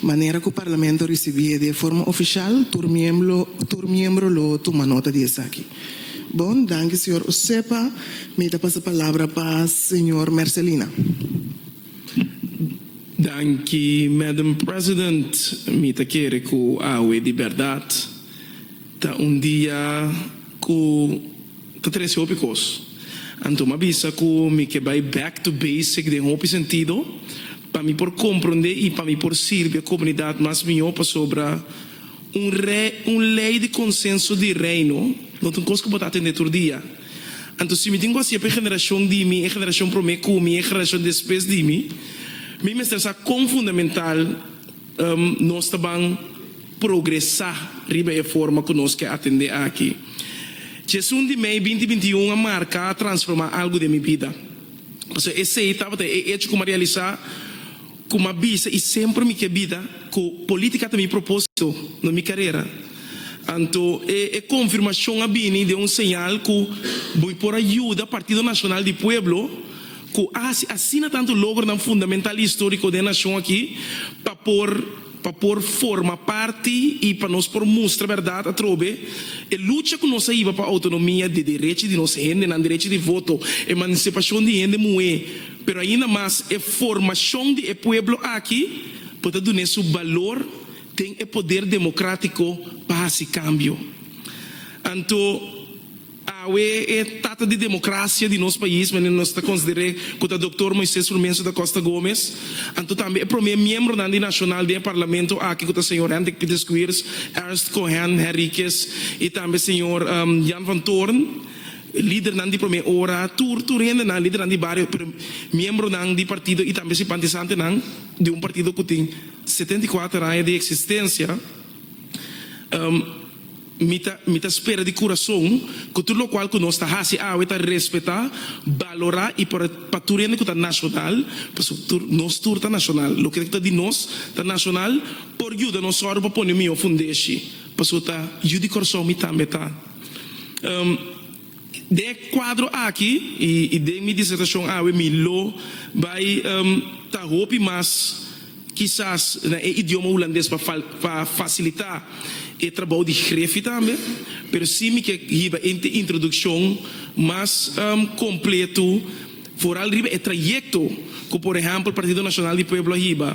Manera ku Parlamento risibí e de forma ofishal, tur miemblo tur miembro lo tuma nota di esaki. Bon, danki señor Osepa. Mi ta pasa palabra pa señor Mercelina. Danki, Madam President. Mi ta kere ku awe di bèrdat ta un dia ku ta trese hopi kos. Anto mi a bisa ku mi ke bai back to basic den hopi sentido. Pa mi por komprondé i pa mi por sirbi e komunidat mas mihó pasobra un rei, un lei di konsenso di Reino no ta un kos ku bo ta atendé tur dia. Anto si mi tin ku hasié pa e generashon di mi, e generashon promé ku mi i e generashon despues di mi, mi mester sa kon fundamental nos ta ban progresá riba e forma ku nos ke atendé aki. Dje esun di mei binti binti i un a marká, a transformá algu den mi bida. Pasobra esei tabata e echo ku mi a realisá, ku mi a bisa i semper mi ke bida ku polítika ta mi propósito na mi karera. Anto e konfirmashon a bini den un señal ku bo por a yuda Partido Nacional di Pueblo, ku a hasi asina tantu logronan fundamental i históriko den nashon aki, pa por. Pa por forma parti i pa nos por mustra bèrdat atrobe e lucha ku nos a hiba pa outonomia di derechi di nos hendenan, derechi di voto, emansipashon di hende muhé, pero ainda mas e formashon di e pueblo aki por ta dun'é su balor den e poder demokratiko pa hasi kambio. Anto. Awe e tata di democracia di nos pais mende nos ta consider'é cu ta Doctor Moises Rumencio da Costa Gomez, anto tambe e prome miembronan di nacional den e parlamento aki cu ta señor Hendrik Pieter Squiers, Ernst Cohen Henriquez y tambe señor Jan van Toorn, lidernan di prome ora, tur tur hendenan, lidernan di bario, pero miembronan di partido y tambe simpatisantenan di un partido cu tin setenta i kuater aña di existencia. Mi ta mi ta spera di kurason ku tur lokual ku nos ta hasi awe ta respetá, balorá i por pa tur hende ku ta nashonal, pasobra tur nos tur ta nashonal. Loke ku ta di nos ta nashonal por yuda nos sòru pa pone un mihó fundeshi, pasobra ta yu di kòrsou mi tambe ta. Den e kuadro aki i den mi disertashon awe mi lo bai ta hopi mas kisas na e idioma hulandes pa fasilitá e trabou di grefi tambe, pero si mi ke hiba e introdukshon mas kompletu. Foral riba e trayekto ku por ehèmpel Partido Nacional di Pueblo a hiba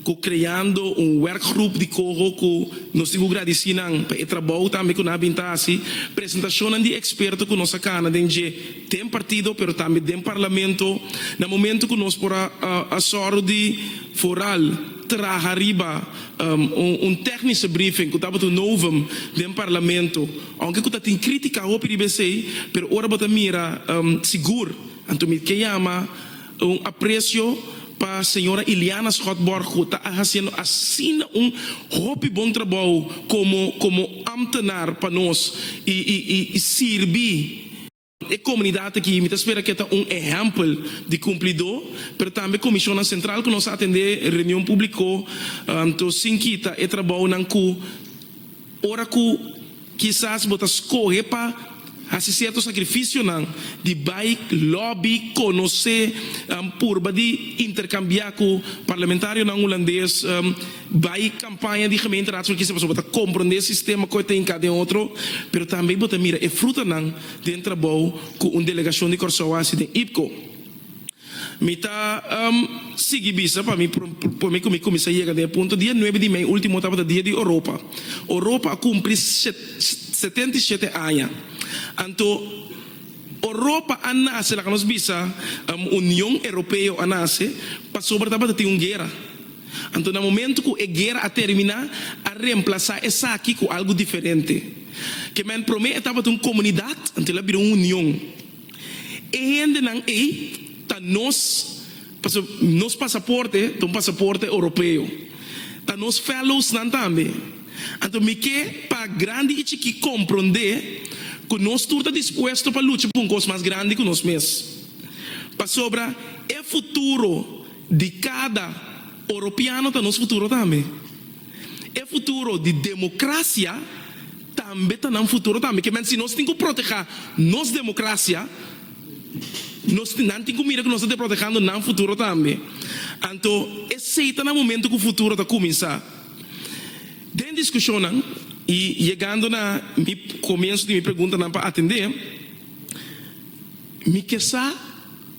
ku kreando un wèrkgrup di koho ku nos tin ku gradisí nan pa e trabou tambe ku nan a bin ta hasi, presentashonnan di eksperto ku nos a kana den dje den partido pero tambe den parlamento na momentu ku nos por a sòru di Foral traha riba un tèknische briefing ku tabata un novum den parlamento. Aunke cu ta tin critica hopi riba esey, pero ora bo ta mira sigur, anto mi ke yama un aprecio pa Señora Iliana Schott Borg cu ta a haciendo asina un hopi bon trabou como como ambtenaar pa nos y y y sirbi. E komunidat aki mi ta spera ke ta un ehèmpel di kumplidó, pero tambe komishonnan sentral ku nos a atendé reunion públiko anto sin kita e trabounan ku ora ku kisas bo ta skohe pa hasi sierto sakrifisionan di bai lòbi, konosé, purba di interkambiá ku parlamentarionan hulandes. Bai kampaña di gemeenteraadslui kisa pasobra bo ta komprondé sistema koe ta hinká den otro, pero tambe bo ta mira e frutanan den trabou ku un delegashon di Kòrsou a hasi den IPCO. Mi ta sigui bisa pa mi por mi ku mi kuminsá yega den e punto. Dia nuebe di mei último tabata Dia di Oropa. Oropa a kumpli setenta i shete aña. Anto Oropa a nase, laga nos bisa Union Europeo a nase, pasobra tabata tin un guera. Anto na momento cu e guera a termina, a reemplaza esaki cu algo diferente. Ke men prome e tabata un comunidad, anto el a bira un union. E hendenan ey ta nos, paso nos pasaporte ta un pasaporte Europeo. Ta nos fellowsnan tambe. Anto mi ke pa grandi y chiki compronde cu nos tur ta dispuesto pa lucha pa un cos mas grandi cu nos mes. Pasobra e futuro Di kada Oropiano ta nos futuro tambe. E futuro di democracia tambe ta nan futuro tambe. Ke mente si nos tin cu proteha nos democracia, nos nan tin cu mira cu nos ta deprotehando nan futuro tambe. Anto esey ta na momento cu futuro ta cuminsa. Den discusionnan y yegando na mi comienzo di mi preguntanan pa atende, mi ke sa.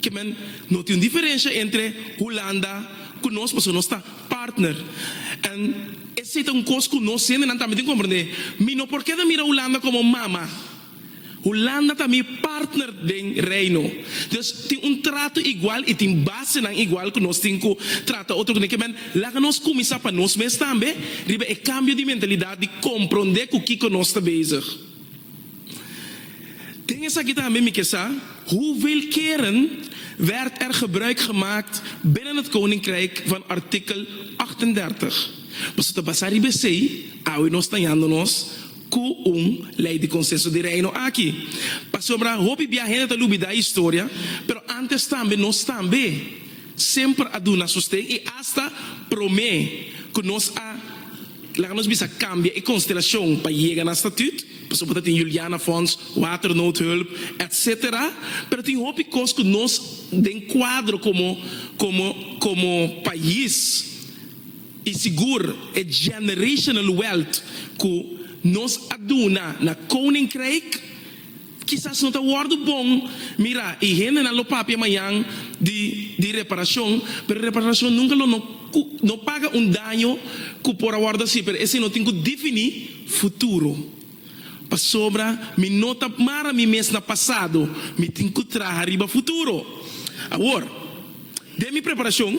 Kimen, no tin un diferensha entre Hulanda ku nos pasobra nos ta partner. En esei ta un kos ku nos hendenan tambe tin komprendé. Mi no por keda mira Hulanda komo mama. Hulanda ta mi partner den Reino. Dios tin un trato igual i tin basenan igual ku nos tin ku trata otro kuné. Kimen, laga nos kuminsá pa nos mes tambe riba e kambio di mentalidat di komprondé ku kiko nos ta bezig. Den esaki tambe mi ke sa, Hoeveel keren werd er gebruik gemaakt binnen het koninkrijk van artikel achtendertig? Paso ta basa riba esei awe nos ta yando nos ku un Lei di Konsenso di Reino aki. Pasobra hopi bia hende ta lubida e historia, pero antes tambe nos tambe. semper a duna sosten i asta promé ku nos a, laga nos bisa, kambia e konstelashon pa yega na statüt. Pasobra ta tin Juliana Fonds, Waternoodhulp, etc. Pero tin hopi kos ku nos den kuadro komo komo komo pais i sigur e generational wealth ku nos a duna na Koninkryk, Kisas no ta wòrdu bon mirá i hendenan lo papia mañan di di reparashon, pero reparashon nunka lo no ku no paga un daño ku por a wòrdu hasi, pero esei no tin ku difiní futuro. Pasobra mi no ta mara mi mes na pasado, mi tin ku traha riba futuro. Awor, den mi preparashon.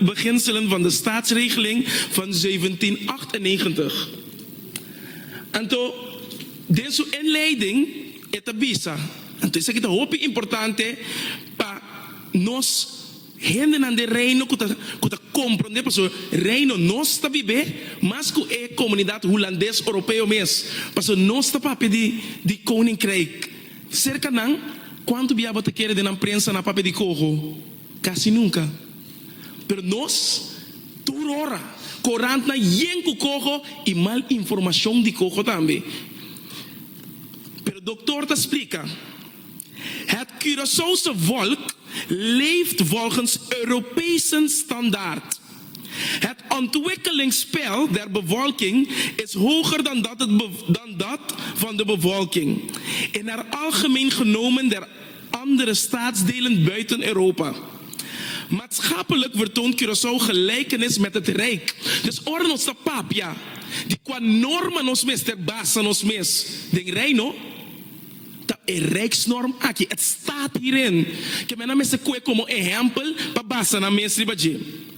beginselen van de Staatsregeling van zeventien-acht-en-negentig. Anto, den su inleiding e ta bisa, anto esaki ta hopi importante pa nos hendenan den Reino ku ta ku ta komprondé, pasobra Reino nos ta bib'é mas ku e komunidat hulandes oropeo mes, pasobra nos ta papia di di Koninkryk. Serka nan, kuantu biaba ta kere den nan prensa nan papia di koho? Casi nunca, pero nos tur ora. Corantnan yen cu coco y mal informacion di coco tambe. Pero dokter ta splica, Het Curaçaose volk leeft volgens Europese standaard. Het ontwikkelingspeil der bevolking is hoger dan dat van de bevolking, en naar algemeen genomen der Andere staatsdelen buiten Europa. Maatschappelijk vertoont Curaçao gelijkenis met het Rijk. Dus ora nos ta papia di kua norma nos mester basa nos mes den Reino, ta e Rijksnorm aki, het staat hierin, ke men a mester koe komo ehèmpel pa basa nan mes riba dje.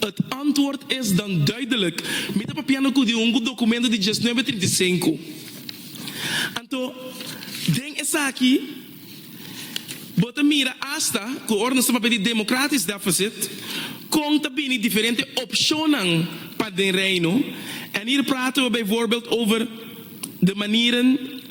Et antwoord is dan duidelijk, mi ta papiando cu di un documento di dieznuebe trinta i sinku. Anto, den esaki bo ta mira hasta cu ora nos ta papia di democratisch deficit, con ta bini diferente opcionnan pa den Reino. En hier praten we bijvoorbeeld over de manieren,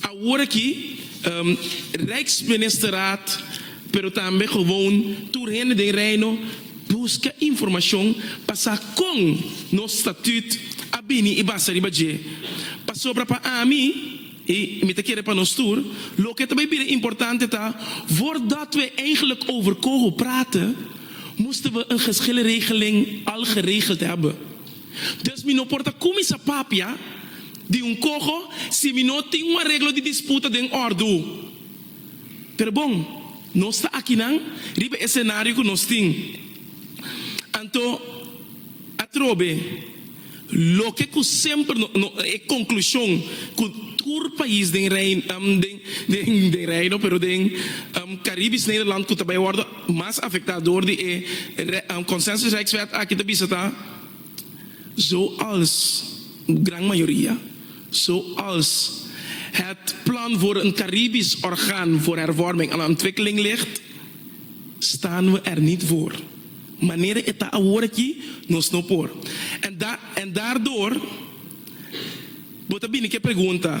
Awor aki, Rijksministeraad, pero tambe gewoon tur hende den Reino buska informashon pa sa kon nos Statuut a bini i basa riba dje. Pasobra pa ami, i mi ta kere pa nos tur, loke ta bai bira importante ta, Voordat we eigenlijk over coho praten, moesten we een geschilregeling al geregeld hebben. Dus mi no por ta kuminsá papia di un koho si mi no tin un areglo di disputa den òrdu. Pero bon, nos ta akinan riba e senario ku nos tin. Anto, atrobe, loke ku semper no no e konklushon ku tur pais den Reino, den Reino, pero den Karibis Nederland ku ta bai wòrdu, Mas afecta door di e Consensus Rijkswet aki ta bisa ta zo als gran mayoria, zo als het plan voor een Caribisch orgaan voor hervorming en ontwikkeling ligt, staan we er niet voor. Manera e ta awor aki nos no por. En en daardoor bo ta bini cu e pregunta.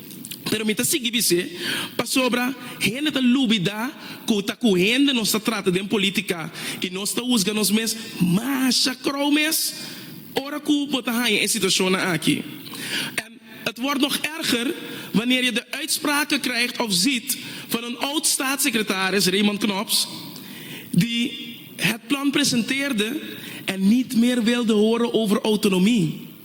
Pero mi ta sigui di se, pasobra hende ta lubidá ku ta ku hende nos ta trata den polítika i nos ta husga nos mes masha krou mes ora ku bo ta haña e situashonnan aki. En het wordt nog erger wanneer je de uitspraken krijgt of ziet van een oud-staatssecretaris, Raymond Knops, die het plan presenteerde en niet meer wilde horen over autonomie.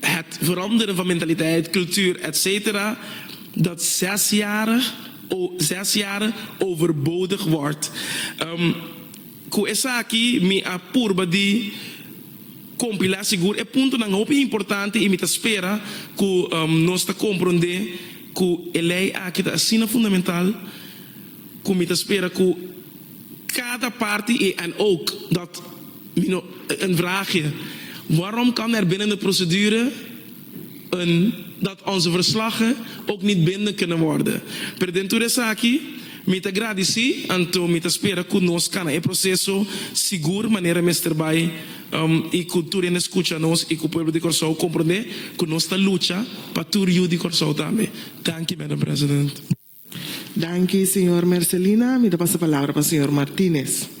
Het veranderen van mentaliteit, cultuur etc. Dat zesjarig o zes jaar overbodig word. Cu esaki mi a purba di compila sigur e puntonan hopi importante y mi ta spera cu nos ta compronde cu e ley aki ta asina fundamental. Cu mi ta spera cu cada parti y en ook dat mi no een vraagje, waarom kan er binnen de procedure een dat onze verslagen ook niet bindend kunnen worden? Pero den tur esaki mi ta gradici, anto mi ta spera cu nos cana e proceso sigur manera mester bay y cu tur hende scucha nos y cu pueblo di Corsou comprende cu nos ta lucha pa tur yu di Corsou tambe. Danki Madam President. Danki señor Mercelina, mi ta pasa palabra pa señor Martinez.